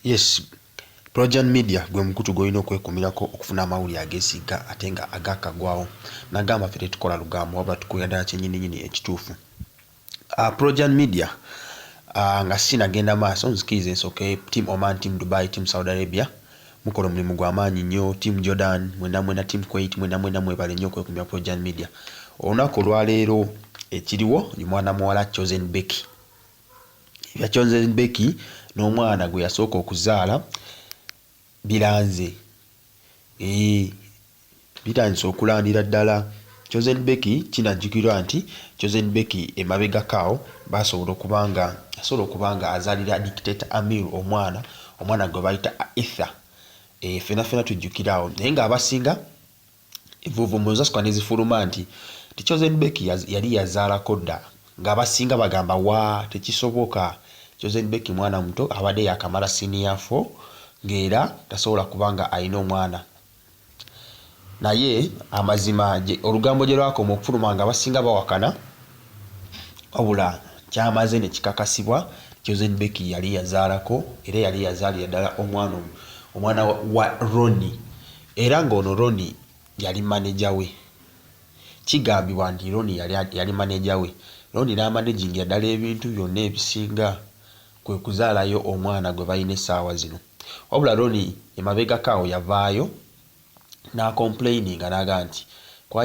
Yes, Projan Media gwe mukutu gwolina okwekumirako okufuna amawulire agesigga ate nga agakagwawo nagamba ffe tetukola lugambo wabula tukulira ddala kyenyininyini ekituufu. Uh, Projan Media uh, nga sinagenda maaso nzikiriza ensooke Team Oman, Team Dubai, Team Saudi Arabia mukola omulimu gwa maanyi nnyo. Team Jordan mwena mwena, Team Kuwait mwena mwena, mwebale nnyo okwekumira Projan Media. Olunaku olwaleero ekiriwo ye mwana muwala Chosen Becky Ebya Chosen Becky n'omwana gwe yasooka okuzaala biranze. Eeh bitandise okulandira ddala. Chosen Becky kinajjukirwa nti Chosen Becky emabegako awo baasobola okuba nga yasobola okuba nga azaalira Dictator Amir omwana, omwana gwe bayita Aether. Eeh ffena ffena tujjukira awo naye ng'abasinga Envuuvu mu nzasukka ne zifuluma nti, nti Chosen Becky yaz, yali yazaalako dda, ng'abasinga bagamba waa, tekisoboka, Chosen Becky mwana muto abadde yaakamala siniya fo ng'era tasobola kuba nga alina omwana. Naye amazima gye, olugambo gye lwakoma okufuluma ng'abasinga bawakana, wabula kyamaze ne kikakasibwa nti Chosen Becky yali yazaalako era yali yazaalira ddala omwana, omwana wa Ronnie. era ng'ono Ronnie yali maneja we. Kigambibwa nti Ronnie yali yali maneja we, Ronnie n'amanagingira ddala ebintu byonna ebisinga kwe kuzaalayo omwana gwe balina essaawa zino. Wabula Ronnie emabegako awo yavaayo n'akompuleyininga n'agamba nti,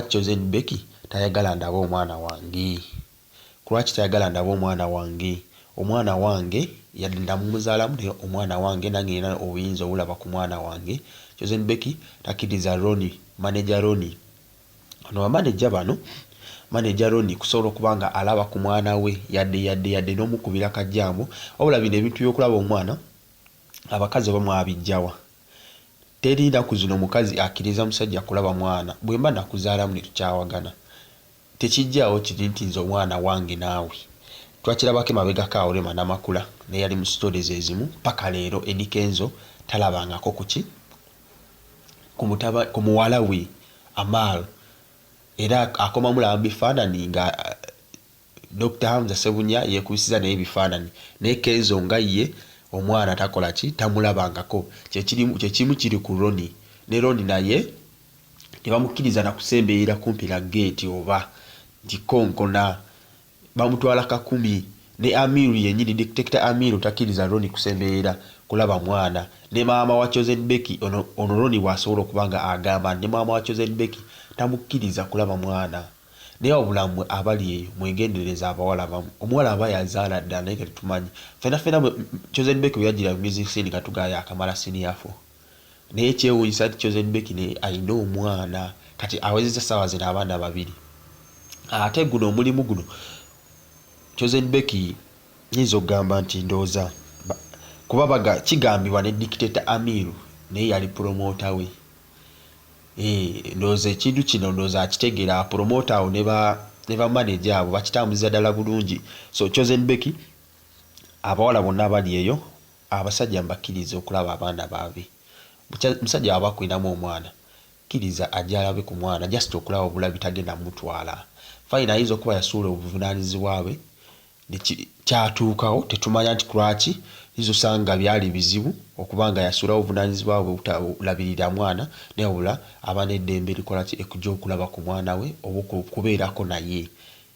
Chosen Becky tayagala ndabe omwana wange. kulwaki tayagala ndabe omwana wange omwana wange yadde namumuzalamu naye omwana wange nange nina obuyinza obulaba kumwana wange chosen Becky takiliza Ronnie manager Ronnie Ono ba manager bano manager Ronnie kusobola okuba nga alaba kumwana we yadde yadde yadde nomukubila kajambo wabula bino ebintu byokulaba omwana abakazi oba mwabijjawa Teri naku zino mukazi akiliza musajja kulaba mwana bwemba nakuzalamu netukyawagana Tekijjaawo kiri nti nze omwana wange naawe twakirabako emabegako awo Rema Namakula naye yali mu story zezimu paka leero Eddy Kenzo talabangako ku ki? ku mutaba ku muwala we Amaal era akoma mulaba mu bifaananyi nga Dokita Hamza Ssebunya yekubisiza naye ebifaananyi naye Kenzo nga ye omwana takola ki? tamulabangako kye kiri kye kimu kiri ku Ronnie ne Ronnie naye tebamukkiriza na kusemberera kumpi na ggeeti oba nti konkona, bamutwala kakumi ne Amiru yennyini, Dictator Amiru takkiriza Ronnie kusemberera kulaba mwana ne maama wa Chosen Becky, ono ono Ronnie bw'asobola okuba nga agamba nti ne maama wa Chosen Becky tamukkiriza kulaba mwana. Naye wabula mmwe abali eyo mwegendereze abawala abamu omuwala aba yazaala ddala naye nga tetumanyi. Ffena ffena Chosen Becky bwe yajjira mu music scene nga tugaa yaakamala senior four. Naye kyewunyisa nti chosen Becky naye alina omwana kati awezeza sawa zino abaana babiri ate guno omulimu guno chosen Becky nyinza okugamba nti ndoza kuba baga kigambibwa ne dictator Amiru naye yali promoter we eh ndoza ekintu kino ndoza akitegera promoter awo ne ba ne ba manager abo bakitambuza dala bulungi so chosen Becky abawala bonna abali eyo Abasajja mbakirize okulaba abaana babe bukya musajja waba akulinamu omwana kiriza ajje alabe ku mwana just okulaba obulabi tagenda mutwala fine ayinza okuba yasuula obuvunanyizibwa bwe ne kyatuukawo tetumanya nti kulwaki oyinza osanga byali bizibu okuba nga yasuula obuvunanyizibwa bwe obuta labirira mwana naye wabula aba ne ddembe likola ki ekuja okulaba ku mwana we oba okubeerako naye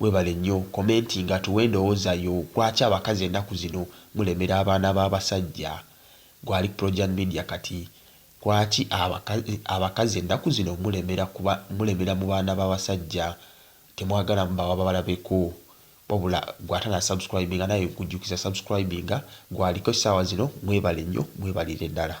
Webale nnyo commentinga tuwe endowoza yo lwaki abakazi enaku zino mulemera abaana ba basajja gwe ali ku projan media kati lwaki abakazi enaku zino mulemera mulemera mu baana ba basajja temwagala mubawa babalabeko wabula gwe atana subscribinga nawe nkujukiza subscribinga gwe aliko esawa zino mwebale nnyo mwebalire dala.